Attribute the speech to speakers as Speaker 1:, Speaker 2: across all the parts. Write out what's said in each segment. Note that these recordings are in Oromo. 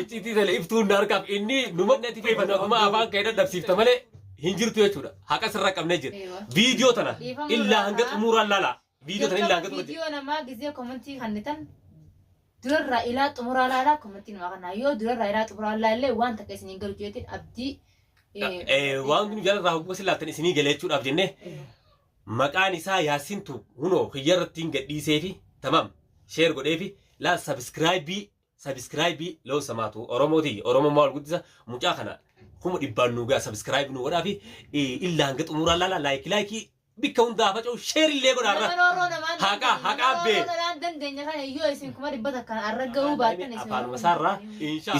Speaker 1: Iccitii sana ibsuun na harkaaf inni numa natti fayyifatu akkuma afaan kee dadhabsiifta malee hin jirtu jechuudha. Haqa sirra qabnee jira. Viidiyoo tana illaa hanga xumuraan laala. Viidiyoo tana illaa hanga xumuraan. Viidiyoo namaa gizee
Speaker 2: komentii kannitan durarraa ilaa xumuraa laalaa komentii namaa kanaa yoo durarraa ilaa xumuraa laallee waan takka isin hin galu jeetiin abdii
Speaker 1: Waan kun jalarraa hogguu isin laattan isinii galee jechuudhaaf jennee maqaan isaa Yaasintu hunoo kiyyarratti hin gadhiisee fi tamam sheer godhee fi laal sabiskiraayibii Sabiskiraayibii loon samaatu Oromoo tiyya Oromummaa wal guddisa mucaa kana kuma dhibbaan nuu ga'a sabiskiraayibii nuu godhaa fi illa hanga xumuraa laala laayikii laayikii bikka hundaa faca'u sheer illee godhaa irra. Nama roorroo namaan Haqaa, dandeenye, haqaa nama bee. roorroo namaan dandeenye kana yoo isin kuma dhibba takkaan arra ga'uu baattan isin Afaanuma isaarraa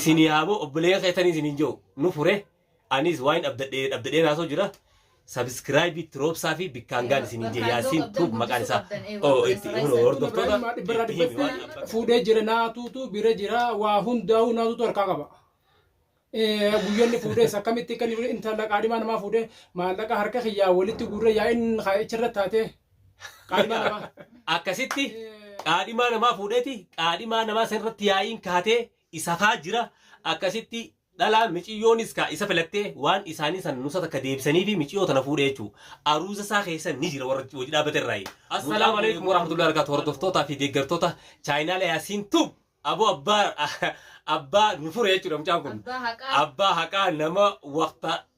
Speaker 1: isinii haaboo obboleeyyan keessanii isiniin jiru nu fure. Aniis waain abdadhe abdadheen haasoo jira subscribe itti roobsaa fi bikkaan gaan isin hin jee yaasiin tuub maqaan isaa oo itti huno hordoftoota Ibrahim dhibbarraa itti himi waan dhibbatti fuudhee jira
Speaker 3: naatuutu bira jira waa hundaa'uu naatuutu harkaa qaba. Eh, Guyyoonni fuudhees akkamitti kan intala qaadhimaa namaa fuudhee maallaqa harka kiyyaa walitti guurree yaa'iin kaa'ichirra taatee qaadhimaa namaa. akkasitti Eh,
Speaker 1: qaadhimaa namaa fuudheeti qaadhimaa namaa san irratti yaa'iin kaatee isa kaa jira akkasitti Dhalaa miciyyoonis kaa isa filattee waan isaanii san nusa takka deebisaniifi miciyyoo tana fuudhee jechuu aruuza isaa keessa ni jira warra hojii dhaabbate irraayi. Assalaamu alaikum warahmatullahi wabarakatuh hordoftootaa fi deeggartoota chaayinaala yaasiin tube aboo abbaa abbaa nu fure jechuudha mucaan kun Abbaa haqaa. abbaa haqaa nama waqta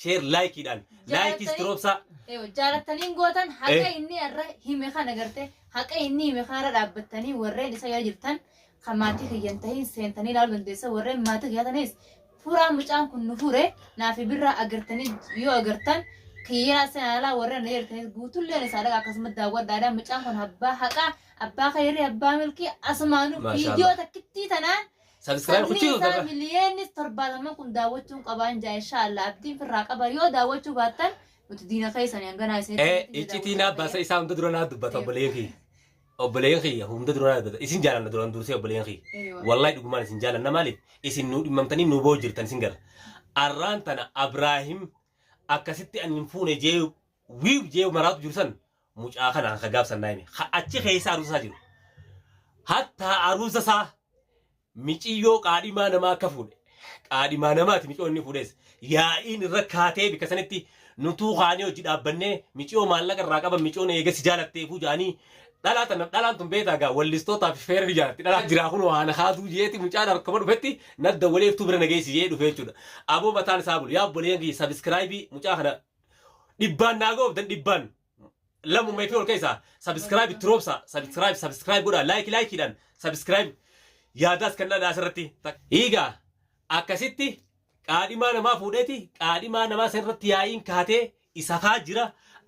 Speaker 1: Share like dhaan. Like istirobsaa. Jaalattaniin
Speaker 2: gootan haqa inni irra hime kana garte haqa inni hime kana irra dhaabbattanii warreen isa yoo jirtan kan maatii kiyyan tahin seentanii ilaaluu dandeessa warreen maatii kiyyaa tanis fuuraa mucaan kun nu fuure naaf birraa agartanii yoo agartan kiyyaa seenaalaa warreen na jirtanis guutulleen isaa dhaqa akkasumas daawwadhaadha mucaan kun abbaa haqaa abbaa kayrii abbaa milkii asumaanuu Maashaallah. viidiyoo takkittii tanaan Subscribe Sabni kuchuu
Speaker 1: isaa miliyoonni
Speaker 2: torbaataman kun daawwachuun qabaan jaa insha Allah abdiin firraa qaba yoo daawwachuu baattan nuti diina keessanii hanganaa isin Eh, iccitii naa baasa
Speaker 1: isaa hunda dura naa dubbata obboleen kiyya. Obboleen kiyya hunda dura naa dubbata. Isin jaalanna duraan dursee obboleen kiyya. Wallahi dhugumaan isin jaalanna maaliif? Isin nuu dhimmamtanii nuu boo jirtan isin gara. Arraan tana Abraahim akkasitti ani hin fuune jee wiiw jee maraatu jiru san mucaa kana ka gaaf sannaa hime ka achi keessa aruusa isaa jiru hattaa aruusa isaa miciyyoo qaadhimaa namaa akka fuudhe qaadhimaa namaati miciyoo inni fuudhes yaa'iin irra kaatee bikka sanitti nutuu kaanee hojii dhaabbannee miciyoo maallaqa irraa qaban miciyoon eega si jaalatteefuu jaanii dhalaa tana dhalaan tun beetaa gaa wallistootaa fi feerri jaalatti dhalaa jiraa kun waan haasuu jeeti mucaan harkuma dhufetti nadda waleeftuu bira nageessi jee dhufee jechuudha aboo mataan isaa bulu yaa obboleeyyan kiyya sabiskiraayibii mucaa kana dhibbaan naa goobdan dhibbaan lamuma fi ol keessa subscribe itti roobsa subscribe subscribe godha like like dhaan subscribe yaadaas kennaa naa asirratti eegaa akkasitti qaadhimaa namaa fuudheeti qaadhimaa namaa san irratti yaa'iin kaatee isa kaa jira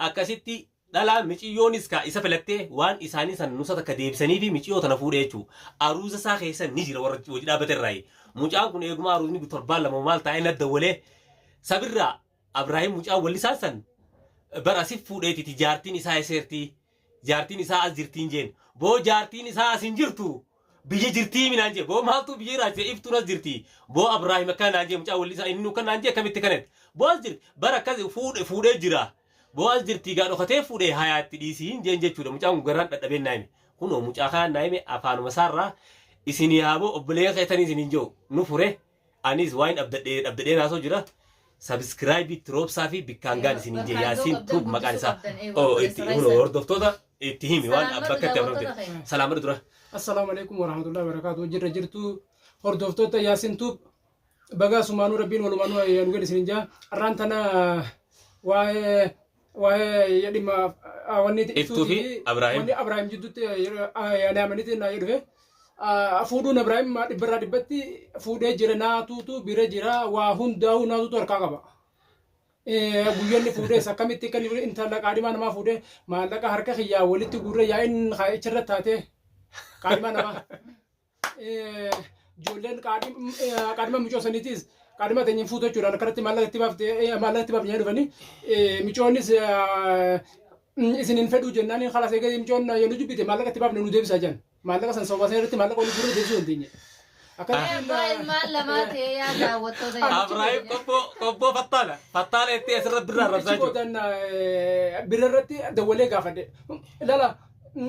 Speaker 1: akkasitti dhalaan miciyyoonis kaa isa filattee waan isaanii san nusa takka deebisanii fi miciyyoo tana fuudhee jechuu aruuza isaa keessa ni jira warra hojii dhaabbate irraa mucaan kun eeguma aruuzni torbaan lama maal taa'ee na dawwalee sabirraa Abraahim mucaa wallisaan san bar asif fuudheetiti jaartiin isaa eseertii jaartiin isaa as jirtiin jeen boo jaartiin isaa as hin jirtu biyya jirtii minaan jee boo maaltuu biyya iraachise iftuun as jirtii boo Abraahim akkana naan jee mucaa wallisaa inni nuukan naan jee akkamitti kanet boo as jirti bar akkas fuudhe fuudhee jira boo as jirtii gaa dhokatee fuudhee hayaa itti dhiisii hin jeen jechuudha mucaan kun garaan dhadhabeen naa hime kunoo mucaa kanaan naa hime afaanuma isaarraa isinii haaboo obboleeyyan keessanii isiniin jehu nu fure Aniis waain abdadhe abdadheen haasoo jira subscribe itti roobsaa fi bikkaan gaan isin hin jee yaasiin tuub maqaan isaa oo itti huno hordoftoota itti himi waan bakka itti abramte salaamadha dura Assalaamu alaikum
Speaker 3: warahmatullahi wabarakatuh jirra jirtu hordoftoota yaasin tuub bagaa sumaanuu rabbiin walumaanuu ayyaanu gad isin hin jaa arraan tana waa'ee waa'ee dhimma wanni itti Iftuu fi ibsuuti.
Speaker 1: Abraahim.
Speaker 3: Wanni Abraahim jidduutti yaada
Speaker 1: amanitti
Speaker 3: naa dhufe. Fuudhuun Abraahim dhibbarraa dhibbatti fuudhee jira naatuutu bira jira waa hundaa'uu naatuutu harkaa qaba. Guyyoonni fuudhees akkamitti kan intala qaadhimaa namaa fuudhee maallaqa harka kiyyaa walitti guurree yaa'iin icharra taatee qaadhimaa namaa. ijoolleen qaadhima micoo saniitiis qaadhima teenya hin fuutu jechuudhaan akkanatti maallaqa itti baafte maallaqa itti baafne dhufanii micoonnis isin hin fedhuu jennaan kalas eegee micoon yoo nu jibbite maallaqa itti baafne nu deebisaa jiran maallaqa san sababa sana irratti maallaqa waliin fuudhee deebisuu dandeenye. Abbaa
Speaker 2: ilmaan lamaa ta'ee yaa daawwattoota yaa Abraahim qobboo
Speaker 1: qobboo fattaala fattaala itti asirra birraa rabsaa
Speaker 3: jiru. Birra irratti dawwalee gaafadhe. Ilala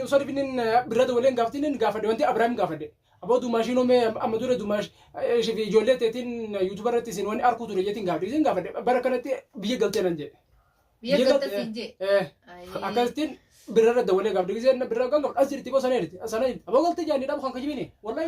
Speaker 3: Sorry binin birra dawaleen gaafatinin gaafadhe wanti Abiraam gaafadhe. Aboo dumaashii noomee amma dura dumaash ishee fi ijoollee teetiin yuutuuba irratti isin wanni arkuu ture jeetiin gaafadhe isin gaafadhe bara kanatti biyya galtee nan jedhe. Biyya Biyya galta galte-
Speaker 2: siin jee. Eh, Ayii. Akkasittiin
Speaker 3: birra irra dawalee gaafadhe giseen birra kan gaafadhe as jirti boo sana jirti sana jirti aboo galtee jaanii dhabu kan kijibini wallahi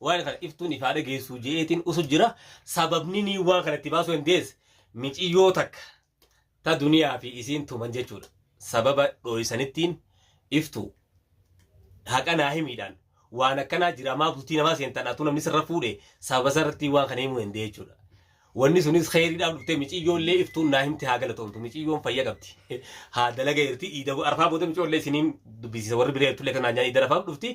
Speaker 1: Waan kana iftuun ifaa dhageessuu je'eetiin usu jira. Sababni nii waan kana itti baasuu dandeesse miciyyoo takka ta duniyaa fi isiin tuman jechuudha. Sababa dhooysanittiin iftuu haqa naa himiidhaan waan akkanaa jira maa bultii namaa seentan atuu namni sirra fuudhe sababa sarratti waan kana himuu danda'e jechuudha. Wanni sunis kheyriidhaaf dhuftee miciyyoollee iftuun naa himte haa galatoomtu miciyyoon fayya qabdi haa dalaga irti iida arfaa booda miciyyoollee isiniin dubbisiisa warri biree tullee kanaan nyaanii iida arfaaf dhufti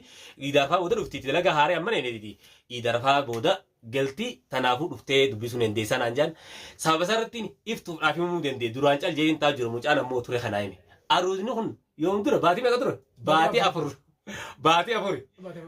Speaker 1: iida arfaa booda dhufti itti dalaga haaree amma neeneetiti iida arfaa booda galti tanaafuu dhuftee dubbisuu dandeessaa naan jaan sababa isaa irratti iftuuf dhaaf himuu dandee duraan cal jeetiin taa jiru mucaan ammoo ture kanaa hime aruuzni kun Yoom ture? Baatii meeqa ture? Baatii afur. Baatii afuri.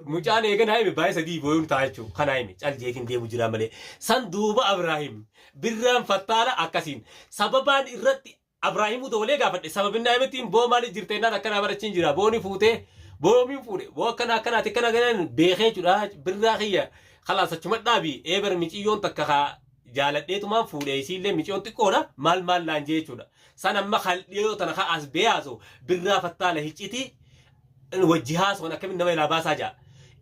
Speaker 1: Mucaan eegan haime baay'ee sadii booyuun ta'a jechuudha. Kan haime cal jeetiin deemu jira malee. San duuba Abiraahim birraan fattaala akkasiin sababaan irratti Abiraahimuu dabalee gaafadhe sababinni haimettiin boo maaliif jirta innaan akkanaa barachiin jira booni fuutee boomiin fuudhe boo akkana akkanaati akkana ganaan beekee jechuudha birraa kiyya kalaas achuma dhaabi eebar miciyyoon takka kaa jaaladheetumaan fuudhee isiillee miciyoon xiqqoodha maal maal naan jee jechuudha. San amma kaldhiyoo tana ka as bee haasoo birraa fattaala hiccitii wajji haasoon akkamitti nama ilaa baasaa ja'a.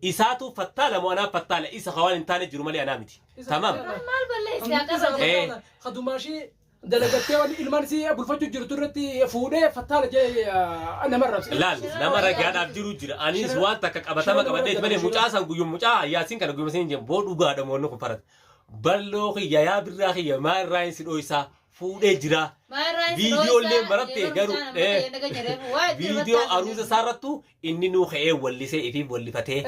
Speaker 1: Isaatu fattaala moo anaa fattaala isa ka waan hin taane jiru malee anaa miti. Tamam. Maal balleessi
Speaker 2: haa qaban. Eh. Kadumaashii
Speaker 3: dalagattee wanni ilmaan si bulfachuu jirtu irratti fuudhee fattaala jee nama rabse. Laal nama ragaadhaaf
Speaker 1: jiru jira. Anis waan takka qabatama qabadheet malee mucaa san guyyum mucaa yaasiin kana guyyum siin jeen boo dhugaa dhamoonni kun farate. Balloo kiyya yaa birraa kiyya maa irraa hin si dhoysaa fuudhee jira. Viidiyoo illee marattee garuu viidiyoo aruusa isaarrattu inninuu ka'ee wallisee ifiif wallifatee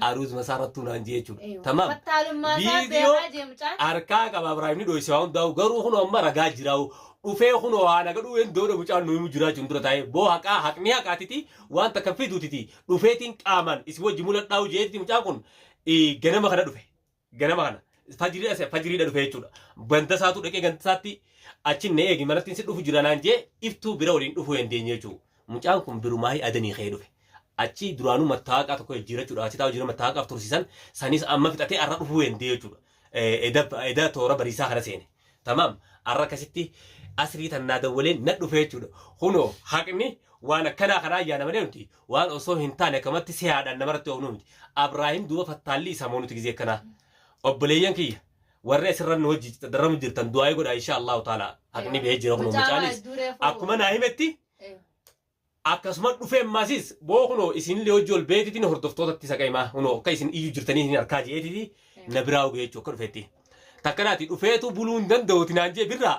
Speaker 1: aruuzuma isaa irrattuu naan jee jechuudha. Eeywa. Tamaam. Fattaalummaa isaa Viidiyoo beekaa jee mucaan. harkaa qaba Ibraahim ni dhoyse waa hundaa'u garuu kunoo amma ragaa jiraa'u dhufee kunoo haa nagadhuu hin dooda mucaan nu himu jiraachuun dura taa'ee boo haqaa haqni haqaatiti waan takka fiduutiti dhufeetiin qaamaan isin wajji muladhaa'u jeetiti mucaan kun eh, ganama kana dhufe ganama kana fajrii ase fajriidha dhufe jechuudha. Ganda isaatu dhaqee ganda isaatti achi na eegi manatti si dhufu jira naan jee iftuu bira waliin dhufuu hin deenye jechuudha. Mucaan kun birumaahii adanii ka'ee dhufe. Achi duraanuu mattaaqaa tokko jijjiirachuudha. Achi taa'u jira mattaaqaaf tursiisan sanis amma fixatee har'a dhufuu hin deenye jechuudha. Eda toora bariisaa kana seene. Tamaam arra akkasitti asrii tan naa dawwaleen na dhufee jechuudha. Kunoo haqni waan akkanaa kanaa yaana malee nuti waan osoo hin taane akkamatti sehaadhaan namarratti oofnuu miti. Abraahim duuba fattaallii isaa moo nuti gizee akkanaa. Obboleeyyan kiyya warri asirra nu wajji darramu jirtan du'aayii godhaa inshaa Allahu ta'ala haqni bahee jira kunoo mucaanis akkuma naa himetti Akkasuma dhufe ammasis boo kunoo isinillee hojji ol beetitini hordoftootatti isa qaima kunoo akka isin iyyu jirtanii isin harkaa je'eetiti na biraa uge jechuu akka dhufetti. Takka naati dhufeetu buluu hin danda'uti naan je'e birraa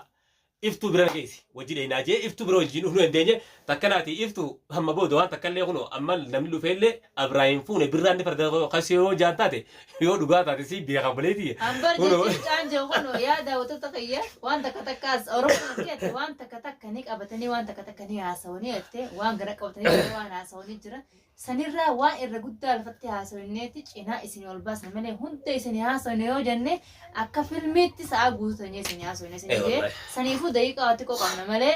Speaker 1: iftuu bira na geessi wajji dheynaa je'e iftuu bira wajjiin dhufnuu dandeenye takka naati iftu amma booda waan takkallee kunoo amma namni dhufeellee abiraahiin fuune birraan ni farda kasee yoo jaan taate Yoo dhugaa taate si beeka bulee tiyya. Ambar Kunoo. jechuun
Speaker 2: caan jiru kun yaa daawwattoota kiyya waan takka takka as Oromoo jette waan takka takka ni qabatanii waan takka takka ni haasawanii jette waan gara qabatanii jira waan haasawanii jira sanirraa waan irra guddaa lafatti haasawineetti cinaa isin ol baasne malee hunda isin haasawne yoo jenne akka filmiitti sa'a guutuu teenyee isin haasawne isin Eh, jee wallahi. saniifuu daqiiqaa xiqqoo qabna malee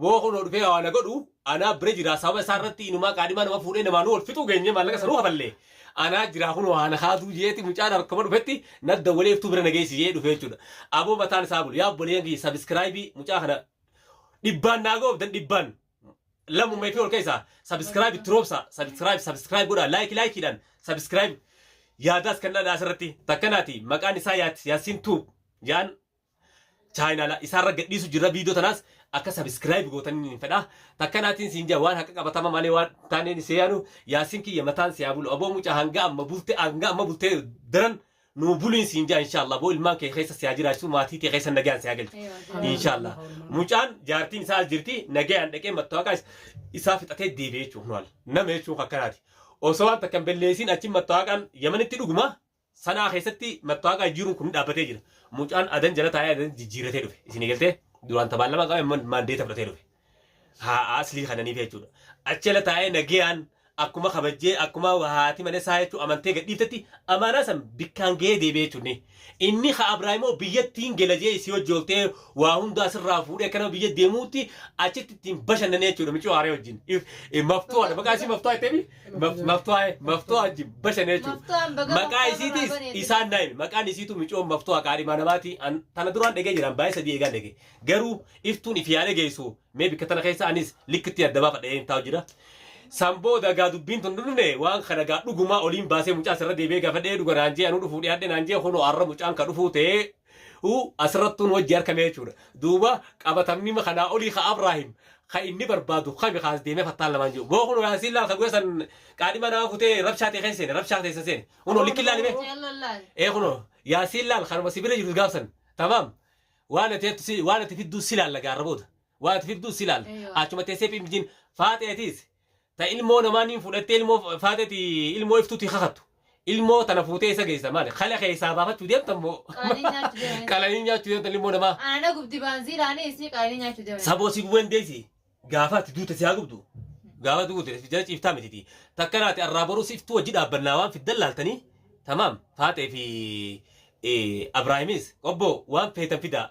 Speaker 1: Wbo kunoo dhufee waa na godhu anaa bira jiraa sababa isaa irratti inumaa qaadhimaa nama fuudhee namaa nu wal fixuu geenyee maallaqa sanuu kafallee anaa jiraa kunoo haa na kaasuu jeeti mucaan harkuma dhufetti na dawwalee iftuu bira na geessi jee dhufee jechuudha aboo mataan isaa bulu yaa obboleeyyan kiyya sabiskiraayibii mucaa kana dhibbaan naa goobdan dhibbaan lammuma ifii ol keessaa sabiskiraayib itti roobsa sabiskiraayib sabiskiraayib godhaa laayiki laayikiidhaan sabiskiraayib yaadaas kennaa asirratti takkanaati maqaan isaa yaat yaasiin tuub yaan chaayinaala isaarra gadhiisu jirra viidiyoo tanaas akka sabiskiraayib gootan hin fedha takka naatiin siin jaa waan haqa qabatama malee waan taaneen isee yaanu yaasin kiyya mataan si haa bulu aboo mucaa hanga amma bulte hanga amma bultee daran nuu buliin siin jaa inshaallah aboo ilmaan kee keessa si haa jiraachisuu maatii tee keessa nagaan si haa galchu inshaallah mucaan jaartiin isaa as jirti nagaan dhaqee mattaawaqaa isaa fixatee deebi'ee jechuun nama jechuun akkanaati osoo waan takka hin belleessiin achi mattaawaqaan yamanitti dhuguma Sanaa keessatti mattaawaqaa jijjiiruun kun dhaabbatee jira. Mucaan adan jala taa'ee adan jijjiirratee dhufe. Isin eegaltee duraan tabaan lama qabe man- maandeeta fudhatee dhufe. Haa aslii kananiif jechuudha. Achi jala taa'ee nagayaan akkuma kabajjee akkuma haati mana isaa jechuu amantee gadhiiftetti amaanaa san bikkaan ga'ee deebi'ee jechuunni. Inni ha Abraahimoo biyyattiin gela jee isii hojii oltee waa hundaa sirraa fuudhee akka nama biyya deemuutti achitti ittiin bashannanee jechuudha micoo haaree wajjin. If- eh, Maftuu haadha maqaa isii maftuu haa jetteemi. Maf- Maftuu haa'e, maftuu hajji bashan jechuudha. Maftuu an baga Maqaa maftuu isiitis irraa baneeti. isaan naayime. Maqaan isiitu micoon maftuu haqaa dhimaa namaati. An- Tana duraan dhagee jiran baay'ee sadii eegaan dhage. Garuu iftuun ifi yaada geessu mee bikka tana keessa anis likkitti adda baafa dhageen taa'u jira. San booda gaa dubbiin tun dhufne waan kana gaa dhugumaa oliin baasee mucaa sirra deebi'ee gaafa dhee dhuga naan jee anuu dhufuu dhiyaadhe naan jee kunoo har'a mucaan ka dhufuu ta'ee u asirrattuun hojji arkamee jechuudha. Duuba qabatamnima kanaa olii ka Abraahim ka inni barbaadu kami kaas deemee fattaan lamaan jiru. Boo kunoo yaasiin laal ka guyya san qaadhima naa futee rabshaa ta'e keessa seene rabshaa teessan seene. Kunoo likki laali mee. Ee kunoo yaasiin laal kanuma si bira jirus gaafsan tamaam waan ati jettu si waan ati fidduu si laalla gaarra booda waan ati fidduu si laalla achuma teessee pimjiin faaxeetiis Ta ilmoo namaa niin fudhattee ilmoo faateti ilmoo iftuuti kakattu. Ilmoo tana fuutee isa geessa maali? Kale keessaa baafachu deemtan moo? Qalanii nyaachu deemanii. Qalanii nyaachu deemtan ilmoo namaa. Ana na gubdi baanziilaanii
Speaker 2: isii qalanii nyaachu deemanii. Saboo si gubeen deessi.
Speaker 1: Gaafa ati duute si haa gubdu. Gaafa duute si jala ciiftaa mititi. Takka naati arraa borus iftuu wajji dhaabbannaa waan fiddan laaltanii tamaam faaxee fi Abraahimis qobboo waan feetan fidaa.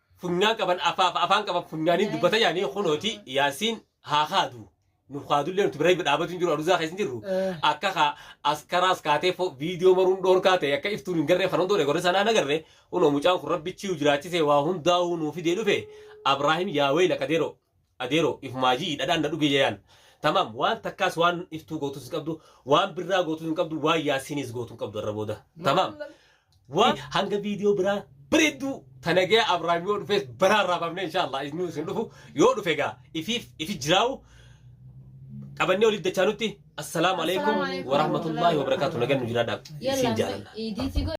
Speaker 1: funyaan qaban afaaf afaan qaban funyaaniin dubbata yaanii kunooti yaasiin haa kaadu nuuf kaadullee nuti bira dhaabatu hin jiru aruzaa keessa hin jirru akka ka askaraas kaatee fo viidiyoo maruun dhoorkaa ta'e akka iftuun hin garree kana hundoo dheegorri sanaa nagarre kunoo mucaan kun rabbichi jiraachisee waa hundaa'uu nuuf fidee dhufe abraahim yaawee lakadeeroo Adeero ifumaa ji'i dhadhaan na dhuge yayaan Tamam waan takkaas waan iftuu gootus hin qabdu waan birraa gootus hin qabdu waan yaasiiniis gootu hin qabdu irra booda Tamam waan hanga viidiyoo biraa bareedduu tanagee Abrahaam yoo dhufees baraa irraa baafnee inshaallah isin isin dhufu yoo dhufe gaa ifiif ifi jiraawu qabannee waliif dachaa nutti assalaamu alaikum Assalaamu alaikum. warahmatullaahi wabarakaatu nagan nu jiraadhaa Yalla isin jaalanna. idiitti